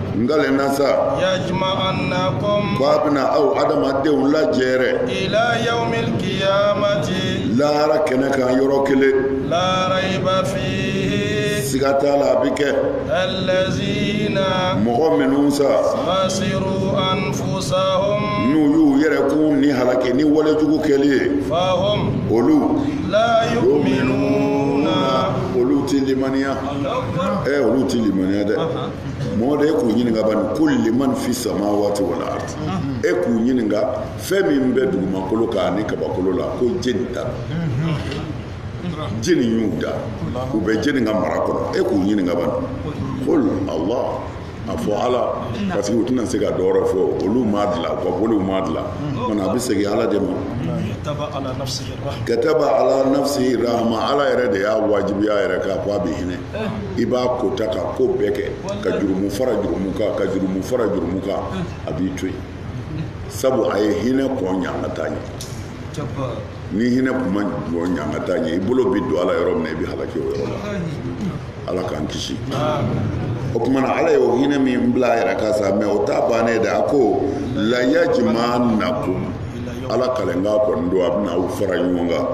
n kalen nasa yajma'annakum f'a bɛna aw adamadenw lajɛrɛ ila yawmil qiyamati lahara kɛnɛ kan yɔrɔ kelen la raiba fihi siga t'a la a bɛ kɛ allazina mɔgɔ minnu sa khasiru anfusahum n'u y'u yɛrɛ kun ni halaki ni wale jugu kɛli ye fahum olu la yu'minuna olu ti limaniya ɛ olu ti limaniya dɛ mɔgɔ de e k'u ɲininka bani qul liman fi samawati wal ardi e k'u ɲininka fɛn min bɛ dugumakolo kan ani kabakolo la ko jɛni ta jɛni y'u da u bɛ jɛni ka mara kɔnɔ e k'u ɲininka bani qul lillah a fɔ ala parce que u tɛna se ka dɔwɛrɛ fɔ olu m'a dilan u ka boliw m'a dilan mana a bɛ segin ala de ma kataba ala nafsihi rahma ala yɛrɛ de y'a wajibiya a yɛrɛ kan fo a bɛ hinɛ i b'a kota ka ko bɛɛ kɛ ka jurumu fara jurumu kan ka jurumu fara jurumu kan a b'i to yen sabu a ye hinɛ kɔn ɲangata ɲɛ ni hinɛ kun ma kɔn ɲangata ɲɛ i bolo bɛ don a la yɔrɔ min na i bɛ halaki o yɔrɔ la ala k'an kisi o tuma na ala y'o hinɛ min bila a yɛrɛ kan sa mɛ o t'a ban yen dɛ a ko layajma'annakum ala kalenkan kɔni don a bɛna aw fara ɲɔgɔn kan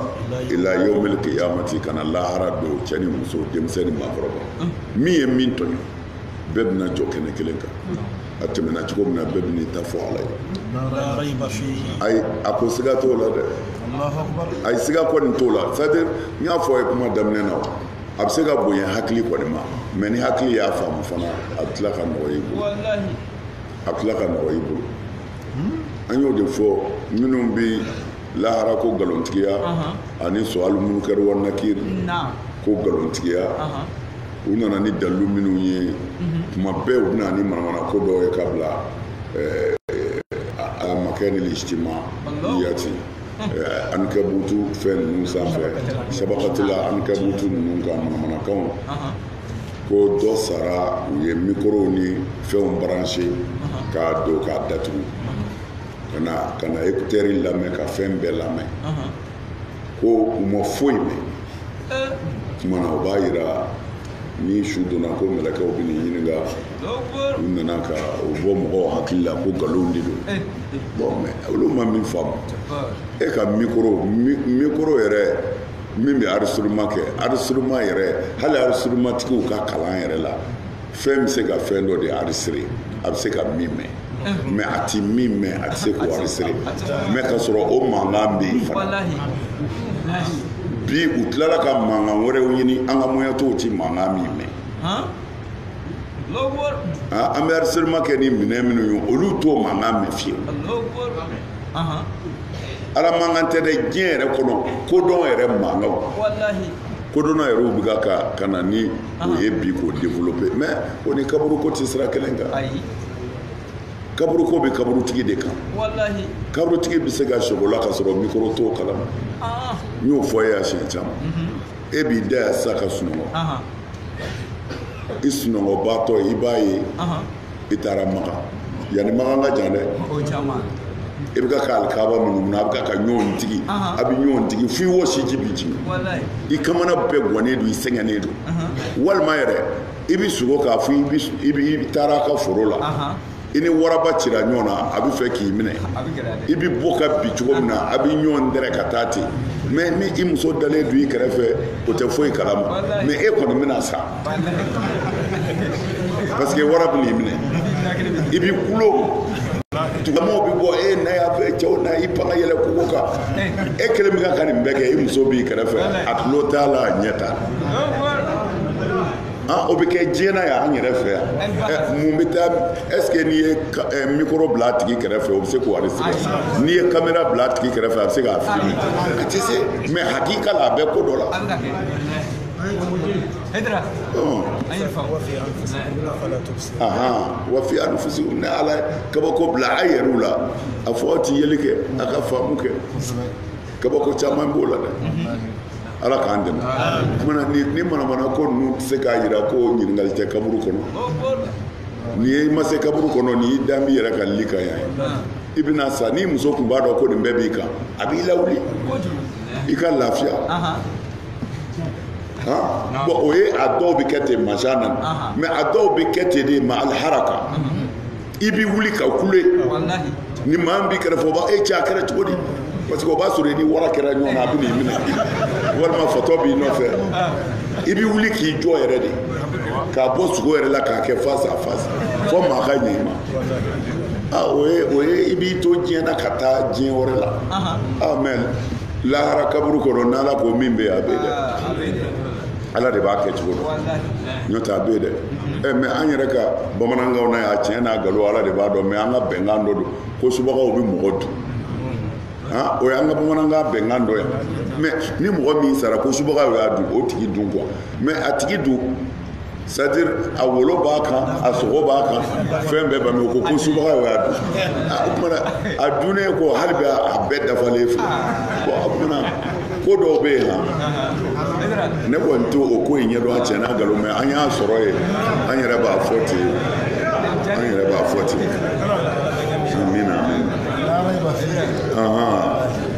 ila yomil kiyamati ka na lahara don cɛ ni muso denmisɛn ni maakɔrɔba min ye min tɔɲɔ bɛɛ bɛna jɔ kɛnɛ kelen kan a tɛmɛna cogo min na bɛɛ bɛna i ta fɔ ala ye ayi a ko siga t'o la dɛ ayi siga kɔni t'o la c'est à dire n y'a fɔ aw ye kuma daminɛ na a bɛ se ka bonya hakili kɔni ma mɛ ni hakili y'a faamu fana a bɛ tila ka nɔgɔya i bolo a bɛ tila ka nɔgɔya i bolo an y'o de fɔ minnu bɛ lahara ko nkalontigiya ani suwalu munkar wa nakir ko nkalontigiya u nana ni dalilu minnu ye mhm. tuma bɛɛ u bɛna ni manamana ko dɔw ye ka bila eh, amakinil ijtima'iyati eh, ankabutu fɛn ninnu sanfɛ shabakatil ankabutu ninnu ka manamanakanw ko dɔ sara u ye mikorow ni fɛnw baranse k'a don k'a datugu ka na ka na ekutɛri lamɛn ka fɛn bɛɛ lamɛn ko u ma foyi mɛn tuma na o b'a yira ni su donna ko mɛlɛkɛw bɛ nin ɲininka u nana ka o bɔ mɔgɔw hakili la ko nkalonw de don bɔn mɛ olu ma min faamu e ka mikoro mikoro yɛrɛ min bɛ enregistrement kɛ enregistrement yɛrɛ hali enregistrement tigiw ka kalan yɛrɛ la fɛn bɛ se ka fɛn dɔ de enregistrer a bɛ se ka min mɛn mɛ a tɛ min mɛn a tɛ se k'o enregistrer mɛ ka sɔrɔ o mankan bɛ yen fana bi u tilala ka mankan wɛrɛw ɲini an ka moyen tɔw tɛ mankan min mɛn an bɛ enregistrement kɛ ni minɛn minnu ye olu t'o mankan mɛn fiyewu ala mankan tɛ dɛ diɲɛ yɛrɛ kɔnɔ kodɔn yɛrɛ mankan kodɔnna yɛrɛ u bɛ ka ka na ni o ye bi k'o développer mais o ni kaburuko tɛ sira kelen kan kaburuko bɛ kaburutigi de kan kaburutigi bɛ se ka sogola ka sɔrɔ mikoro t'o kalama n y'o fɔ e ye a siɲɛ caman e b'i da yan sisan ka sunɔgɔ i sunɔgɔbaatɔ i b'a ye i taara makan yan ni makan ka jan dɛ i bɛ ka ka alikaba munumunu a bɛ ka ka ɲɔgɔn digi a bɛ ɲɔgɔn digi f'i wosiji bɛ jigin i kamana bɛɛ gannen don i sɛgɛnnen don walima yɛrɛ i bɛ sugo k'a fɔ i taara a ka foro la i ni waraba cira ɲɔgɔn na a bɛ fɛ k'i minɛ i bɛ bɔ ka bin cogo min na a bɛ ɲɔgɔn dɛrɛ ka taa ten mɛ ni i muso dalen don i kɛrɛfɛ o tɛ foyi kalama mɛ e kɔni bɛna sa parce que wara bɛna i minɛ i bɛ kulo dugumaaw bɛ bɔ e na yan fɛ cɛ na i pan ka yɛlɛn kogo kan e kelen bɛ ka ka nin bɛɛ kɛ i muso b'i kɛrɛfɛ a tulo t'a la a ɲɛ t'a la an o bɛ kɛ diɲɛ na yan an yɛrɛ fɛ yan ɛ, mun bɛ taa est ce que n'i ye ka- ɛ, mikoro bila a tigi kɛrɛfɛ o bɛ se k'o enregistrer n'i ye kamera bila a tigi kɛrɛfɛ a bɛ se k'a filime a tɛ se mɛ hakika la a bɛ ko dɔ la a bɛ ka kɛ e dira Ɔn. an ye fa ahan wa fi anfusikum ne ala ye kabako bila a yɛrɛw la a fɔ aw tɛ yeli kɛ a ka faamu kɛ kabako caman b'o la dɛ ala k'an dɛmɛ tuma ni manamana ko ninnu tɛ se k'a jira ko ɲininkali tɛ kaburu kɔnɔ ni e ma se kaburu kɔnɔ n'i dalen b'i yɛrɛ ka lit kan yan i bɛna sa n'i muso tun b'a dɔn ko nin bɛɛ b'i kan a b'i lawuli i ka lafiya bon o ye a dɔw bɛ kɛ ten mansa nana mɛ a dɔw bɛ kɛ ten de ma aliharaka i bɛ wuli ka kule ni maa min b'i kɛrɛfɛ o b'a e cɛ a kɛra cogo di parce que o b'a sɔrɔ i ni wara kɛra ɲɔgɔn na a bɛna i minɛ walima fatɔ b'i nɔfɛ i bɛ wuli k'i jɔ yɛrɛ de ka bɔ sugo yɛrɛ la k'a kɛ face à face fo maa ka ɲɛ i ma ah o ye o ye i b'i to diɲɛ na ka taa diɲɛ wɛrɛ la ah mais lahara kaburu kɔnɔ n'ala ko min bɛ yen a bɛ yen dɛ ala de b'a kɛcogo dɔn n'o tɛ a bɛ yen dɛ ɛ mɛ an yɛrɛ ka bamanankan na yan a tiɲɛ n'a galon ala de b'a dɔn mɛ an ka bɛnkan dɔ don ko subagaw bɛ mɔgɔ dun o y'an ka bamanankan bɛnkan dɔ yan mɛ ni mɔgɔ min sara ko subagaw y'a dun o tigi dun quoi mɛ a tigi dun c'est à dire a wolo b'a kan a sogo b'a kan fɛn bɛɛ bami ko ko subaga y'o y'a dun o tuma na a dunnen kɔ hali bi a bɛɛ dafalen filɛ ko o tuma na ko dɔw bɛ yen han ne kɔni t'o ko in ɲɛdɔn a tiɲɛ n'a nkalon mɛ an y'a sɔrɔ yen an yɛrɛ b'a fɔ ten an yɛrɛ b'a fɔ ten amina amina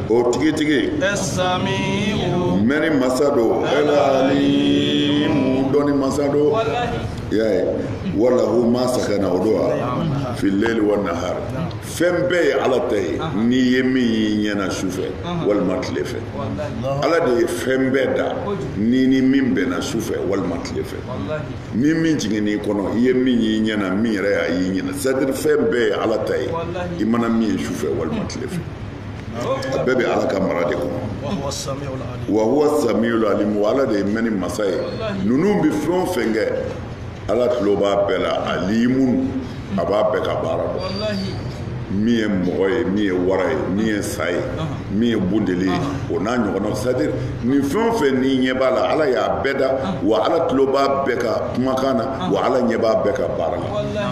o tigitigi mɛnni masa don mu dɔnni masa don y'a ye wa lahu ma sakana o don wa fil layli wa nahari fɛn bɛɛ ye ala ta ye n'i ye min y'i ɲɛ na su fɛ walima tile fɛ ala de ye fɛn bɛɛ da ni ni min bɛnna su fɛ walima tile fɛ ni min jiginn'i kɔnɔ i ye min y'i ɲɛ na min yɛrɛ y'a y'i ɲɛ na c'est à dire fɛn bɛɛ ye ala ta ye i mana min ye su fɛ walima tile fɛ a bɛɛ bɛ ala ka mara de kɔnɔ wa huwa samiul alim wa ala de ye mɛnni masa ye ninnu bɛ fɛn o fɛn kɛ ala tulo b'a bɛɛ la alimun a b'a bɛɛ ka baara dɔn min ye mɔgɔ ye min ye wara ye min ye sa ye min ye bundeli ye o n'a ɲɔgɔnnaw c'est à dire nin fɛn o fɛn n'i ɲɛ b'a la ala y'a bɛɛ da wa ala tulo b'a bɛɛ ka kumakan na wa ala ɲɛ b'a bɛɛ ka baara la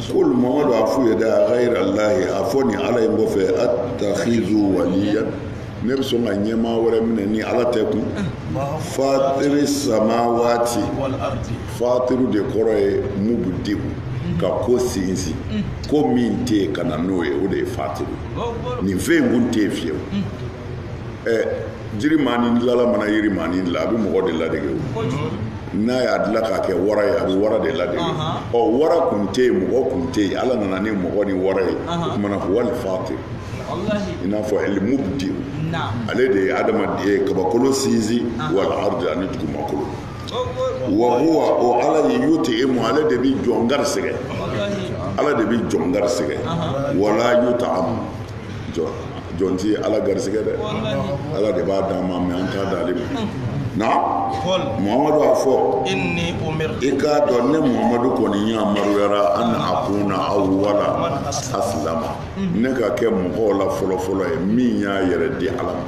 Kul mamadu a f'u ye dɛ a gayira lahi a fɔ nin ala in kɔfɛ atakizu waliyan ne bɛ sɔn ka ɲɛmaa wɛrɛ minɛ ni ala tɛ kun fatiri samawati fatiru de kɔrɔ ye mubudiu ka ko sinsin ko min tɛ yen ka na n'o ye o de ye fatiru nin fɛn in kun tɛ yen fiyewu ɛ jirimaanin dilala mana yirimaanin dila a bɛ mɔgɔ de ladege o n'a y'a dila k'a kɛ wara ye a bɛ wara de ladege ɔ wara kun tɛ yen mɔgɔ kun tɛ yen ala nana ni mɔgɔ ni wara ye o tuma na ko al fatiru i n'a fɔ el mubudi ale de ye adamaden ye kabakolo sinsin wal ardi ani dugumakolo wa huwa o ala ye yutiimu ale de bɛ jɔn garisɛgɛ ala de bɛ jɔn garisɛgɛ wala yutaamu jɔn jɔn tɛ ala garisɛgɛ dɛ ala de b'a d'an ma mɛ an t'a d'ale ma na muhamadu a fɔ i k'a dɔn ne muhamadu kɔni yamaruyara an akuna awala asilama ne ka kɛ mɔgɔw la fɔlɔfɔlɔ ye min y'a yɛrɛ di ala ma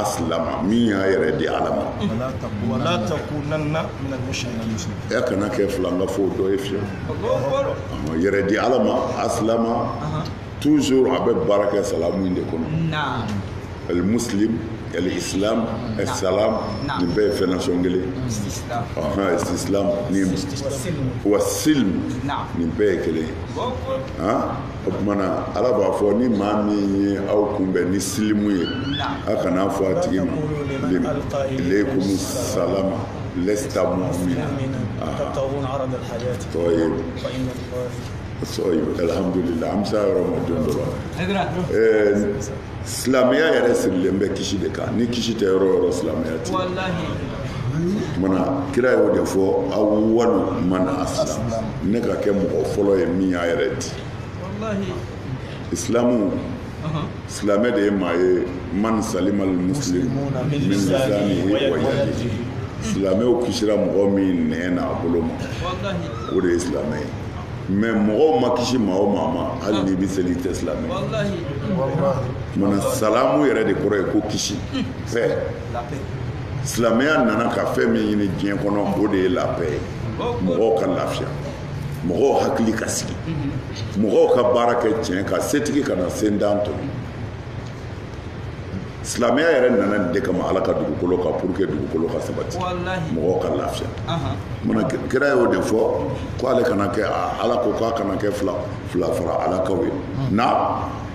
asilama min y'a yɛrɛ di ala ma e kana kɛ filankafo dɔ ye fiyewu i yɛrɛ di ala ma asilama toujours a bɛ baara kɛ salamu in de kɔnɔ al muslim al islam as-salam nin bɛɛ ye fɛn nasɔn kelen islam ni wa silm nin bɛɛ ye kelen ye o tuma na ala b'a fɔ ni maa min ye aw kunbɛn ni silimu ye a kana fɔ a tigi ma ilaykum salama lasta mu'mina طيب alhamdulila an bɛ se a yɔrɔ ma don dɔ la silamɛya yɛrɛ sirilen bɛ kisi de kan ni kisi tɛ yɔrɔ o yɔrɔ silamɛya tɛ mana kira y'o de fɔ awwalu man aslama ne ka kɛ mɔgɔ fɔlɔ ye min y'a yɛrɛ di isilamu silamɛ de ye maa ye man salima al muslim min lisani wa yadi silamɛw kisira mɔgɔ min nɛn ni a bolo ma o de ye silamɛ ye mɛ mɔgɔw ma kisi maa o maa ma hali n'i bɛ seli i tɛ silamɛ mana salamu yɛrɛ de kɔrɔ ye ko kisi paix silamɛya nana ka fɛn min ɲini diɲɛ kɔnɔ o de ye la paix ye mɔgɔw ka lafiya mɔgɔw hakili ka sigi mɔgɔw ka baara kɛ tiɲɛ kan setigi kana sentan tɔɲɔ silamɛya yɛrɛ nana nin de kama ala ka dugukolo kan pour que dugukolo ka sabati mɔgɔw ka lafiya mana kira y'o de fɔ ko ale kana kɛ ala ko k'a kana kɛ fila fara ala kan ye na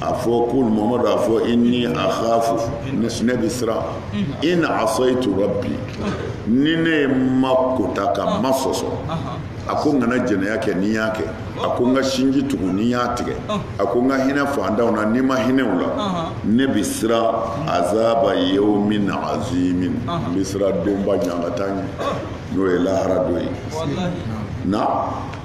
a fɔ qul mamadu a fɔ inni akhafu ne bɛ siran in asaytu rabbi ni ne ye ma kota ka ma sɔsɔ a ko n kana jɛnɛya kɛ ni n y'a kɛ a ko n ka sinji tugu ni n y'a tigɛ a ko n ka hinɛ fantanw na ni n ma hinɛ u la ne bɛ siran azaba yawmin azim n bɛ siran donba ɲangata ɲɛ n'o ye lahara don ye na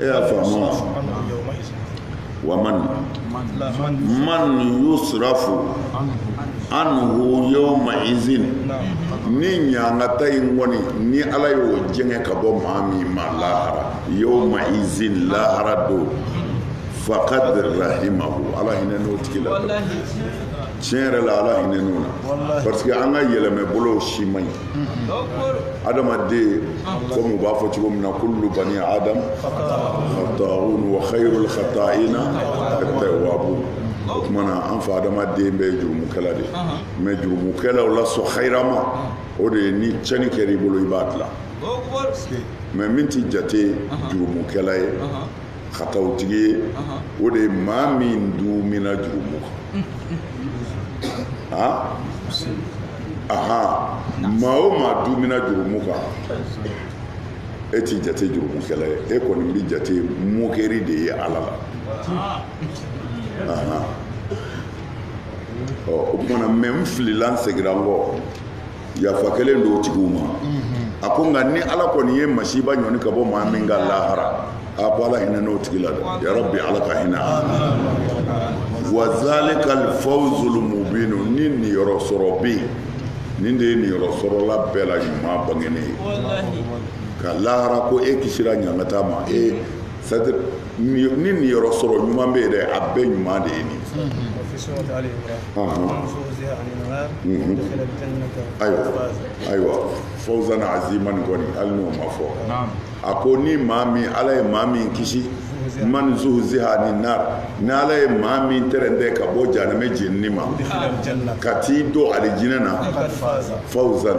e y'a faamu wa wa man man yusrafu anhu yawma izin ni ɲangata in kɔni ni ala y'o jɛngɛ ka bɔ maa min ma lahara yawma izin lahara don faqad rahimahu ala hinɛna o tigi la tiɲɛ yɛrɛ la ala hinɛna o la parce que an ka yɛlɛma bolow si man ɲi adamaden komi u b'a fɔ cogo min na kullu bani adam khata'un wa khairul khata'ina at-tawwabun o tuma na an fa adama den bɛɛ jurumukɛla de mɛ jurumukɛlaw la sɔn hayirama o de ye ni cɛni kɛra i bolo i b'a dilan mɛ min ti jate jurumukɛla ye katawutigi ye o de ye maa min duumina jurumu kan a aha maa o maa duumina jurumu kan e tɛ jate jurumukɛla ye e kɔni bɛ jate mokɛri de ye ala la ɔ o tumana mɛ n filila n segira n kɔ yafa kɛlen don tigi ma a ko nka ni ala kɔni ye masiba ɲɔni ka bɔ maa min kan lahara a ko ala hinɛn'o tigi la dɛ yɔrɔ bi ala ka hinɛ wa zalika alfawzul mubin ni niyɔrɔ sɔrɔ bɛ yen nin de ye niyɔrɔ sɔrɔla bɛɛ la ɲuman bangenen ye ka lahara ko e kisira ɲangata ma e Sadi ni niyɔrɔ sɔrɔ ɲuman bɛ yen dɛ a bɛɛ ɲuman de ye nin ayiwa ayiwa fawzan azima nin kɔni hali n'o ma fɔ a ko ni maa min ala ye maa min kisi man zuhziha ani nari ni ala ye maa min tɛrɛndɛ ka bɔ jahanama jeni ma ka t'i don alijinɛ na fawzan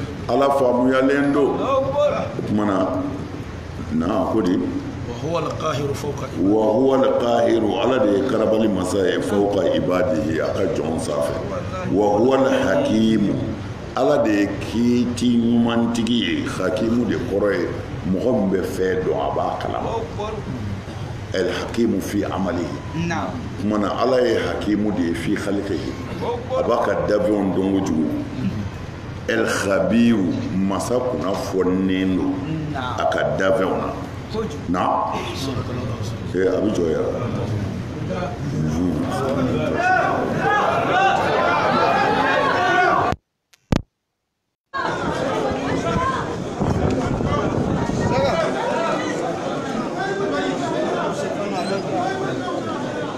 ala faamuyalen don o tumana n'a ko di wa huwa alqahiru ala de ye karabali masa ye fawqa ibadihi a ka jɔnw sanfɛ wa huwa alhakimu ala de ye kiiti ɲumantigi ye hakimu de kɔrɔ ye mɔgɔ min bɛ fɛn dɔn a b'a kalama alhakimu fi amalihi o tumana ala ye hakimu de ye fi khalqihi a b'a ka dafɛn dɔn kojugu alkhabiru masa kunnafoninen don a ka dafɛnw na na ee a bɛ jɔ yɛrɛ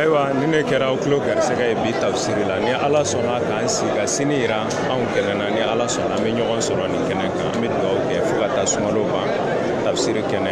ayiwa nin de kɛra aw tulo garisɛgɛ ye bi tafsiri la ni ala sɔnna k'an si ka sini yira anw kɛnɛ na ni ala sɔnna an bɛ ɲɔgɔn sɔrɔ nin kɛnɛ kan an bɛ dugawu kɛ fo ka taa sunkalo ban tafsiri kɛnɛ